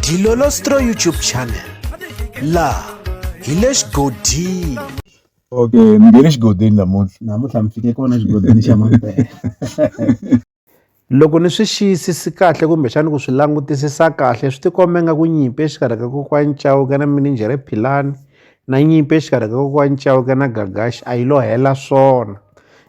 Dilolostro YouTube channel la hi le xigodini okay ni nge le xigodini namuntlha namuntlha mi fike kona xigodini xa mampela loko ni swi xiyisisi kahle kumbexani ku swi langutisisa kahle swi tikomba nga ku nyimpi exikarhi ka kokwani cawuka na mininjhere philani na nyimpi exikarhi ka kokwani cawuka na gagaxi a yi lo hela swona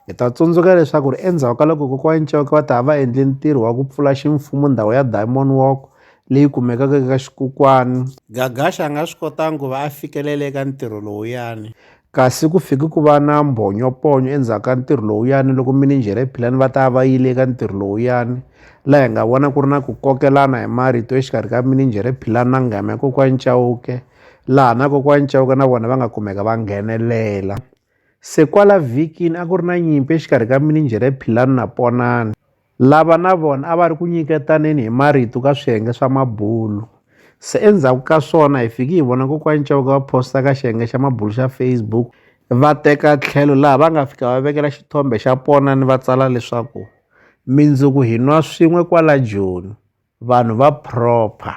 Hi ta tsundzuka leswaku ri endzhaku ka loko kokwani Cauke va ta va endle ntirho wa ku pfula ximfumo ndhawu ya Diamond Walk leyi kumekaka eka xikokwani Gagasha a nga swi kotanga ku va a fikelele eka ntirho lowuyani. Kasi ku fike ku va na mbhonyoponyo endzhaku ka ntirho lowuyani loko mininjhere Philani va ta va yile eka ntirho lowuyani laha hi nga vona ku ri na ku kokelana hi marito exikarhi ka mininjhere Philani na nghamya kokwani Cauke laha na kokwani Cauke na vona va nga kumeka va nghenelela. Se kwala vhikini a ku ri na nyimpi exikarhi ka mininjhere ya Philanu na Ponani, lava na vona a va ri ku nyiketaneni hi marito ka swiyenge swa mabulu. Se endzhaku ka swona hi fiki hi vona kokwani Chauke va posta ka xiyenge xa mabulu xa Facebook va teka tlhelo laha va nga fika va vekela xithombe xa Ponani va tsala leswaku mindzuku hi nwa swin'we kwala Joni vanhu va proper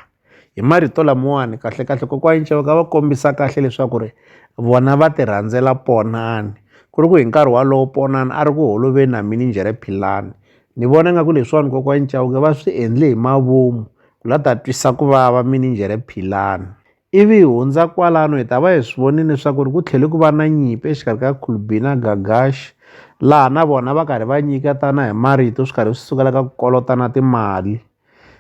hi marito lamawani kahlekahle kokwani Nchauke a va kombisa kahle leswaku ri vona va ti rhandzela Ponani ku ri ku hi nkarhi walowo Ponani a ri ku holoveni na mininjhere Philani ni vona nga ku leswiwani kokwani Nchauke va swi endle hi mavomu ku la ta twisa ku vava mininjhere Philani Ivi hi hundza kwalano hi ta va hi swi vonile leswaku ku tlhele ku va na nyimpi exikarhi ka Kulbi na Gagashi, laha na vona va karhi va nyiketana hi marito swi karhi swi sukela ka ku kolotana timali.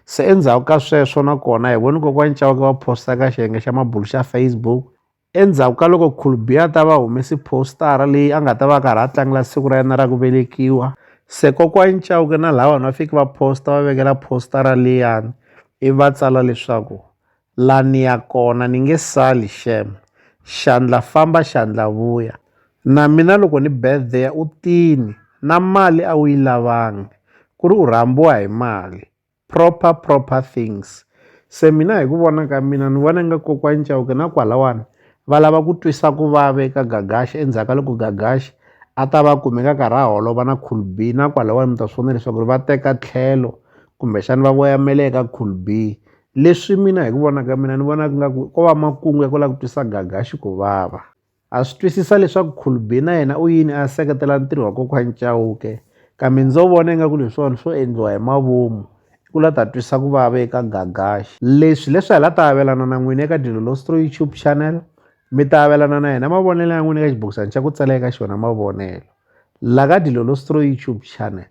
Se endzhaku ka sweswo na kona hi vone kokwani Chauke va posta ka xiyenge xa mabulu xa Facebook endzhaku ka loko Kulbi a ta va humesi postara leyi a nga ta va karhi a tlangela siku ra yena ra ku velekiwa se kokwani Chauke na lawani va fiki va posta va vekela postara liyani ivi va tsala leswaku La ni ya kona ni nge sali shame xandla famba xandla vuya na mina loko ni birthday u tini na mali a wu yi lavangi ku ri u rhambiwa hi mali proper proper things se mina hi ku vona ka mina ni vona nga kokwani Chauke na kwalawani va lava ku twisa ku vava eka Gagash endzhaku ka loko Gagash a ta va kume ka karhi a holova na Cool B na kwalawani mi ta swi vona leswaku ri va teka tlhelo kumbexana va voyamela eka Cool B leswi mina hi ku vona ka mina ni vonaka nga ku ko va makungu ya ku lava ku twisa Gagashi ku vava ha swi twisisa leswaku Khulbi na yena u yini a seketela ntirho wa kokwani Chauke kambe ndzo vona ingaku leswiwani swo endliwa hi mavomu i ku la ta twisa ku vava eka Gagashi leswi leswi hi la ta avelana na n'wina eka Dilolostro YouTube channel mi ta avelana na yena mavonelo ya n'wina eka xibokisana xa ku tsala eka xona mavonelo la ka Dilolostro YouTube channel